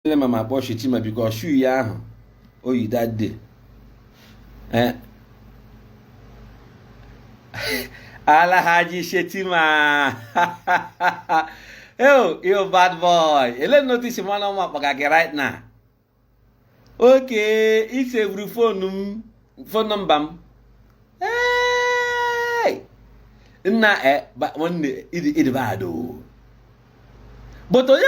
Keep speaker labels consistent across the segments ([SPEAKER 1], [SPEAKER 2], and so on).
[SPEAKER 1] nne ma ma kpọọ Shetima biko ọshu ya ahụ oyi that day eh. Alhaji Shetima oh you bad boy ele otu isi ma na ọ m akpọga gị right now okay i sevuru fonu m fon nọmba m nna eh, nwanne ị dị bad o but onye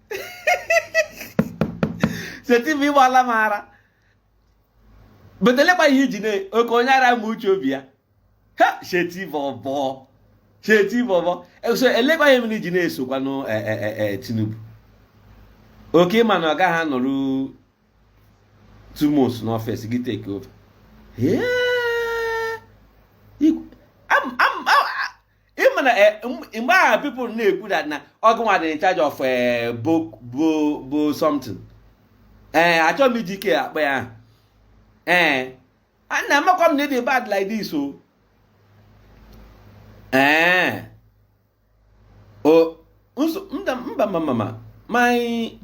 [SPEAKER 1] Shetima ịgbala m ara but elekwa ihe iji na oke onye ara ma uche obi ya ha Sheti bọbọ Sheti bọbọ so elekwa ihe mere iji na-esokwanụ e, e, e, Tinubu okay ịma na ọ gaghị anọru two months n'ọfịs gị take over ịma na eh, mgbe ahụ people na-ekwu that na ọ gịnwa dị in charge of eh, bo something ee eh, achọghị m iji ike akpọ ya ee ana amakwa m na ịdị bad like this o ee o mba mama my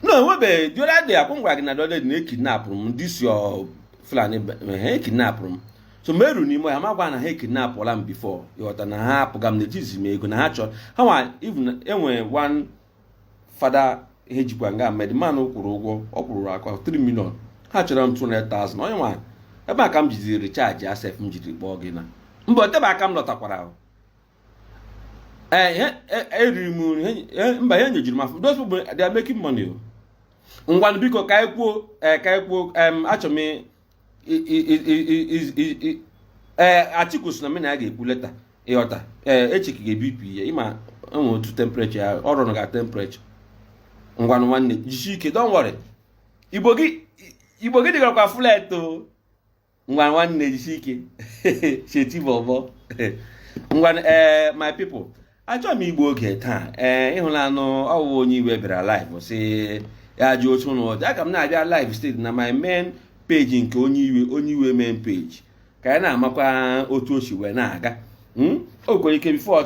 [SPEAKER 1] no enwebeghị the other day akwụ gwara gị na the other day na ekidnapụrụ m this your Fulani ha ekidnapụrụ m so mụ eru n'ime ya m agwa na ha ekidnapụla m before ịghọta na ha apụga m na-etizi m ego na ha chọrọ ha nwa even enwere one fada ha jikwa nga ma the man kwụrụ ụgwọ ọ kwụrụ akwa 3 million ha chọrọ m 200,000 onye nwa ebe a ka m jidi recharge asef m jiri kpọọ gị na mba o tebe aka m lọtakwara ahụ eh, eh, eriri m nri mba ha nyejuru m afọ those people they are making money o oh. ngwanụ biko ka anyị kwuo eh, ka anyị kwuo achọ m ee Atiku si na mụ na ya ga-ekwu later ịghọta ee echekiga BP ya ịma enwe otu temperature ya ọ rọnụga temperature ngwanụ nwanne jisie ike don worry Igbo gị dịgarakwa flat ngwa nwanne jisi ike Sheti bọbọ ngwa ee eh, my people achọghị m igbu oge taa ee eh, ịhụlanụ ọ wụ Onye Iwe bịara live si ya jụ otu ụlọ ọdị aga m na-abịa live straight na my main page nke Onye Iwe Onye Iwe main page ka anyị na-amakwa otu o si wee na-aga hmm? o kwere ike before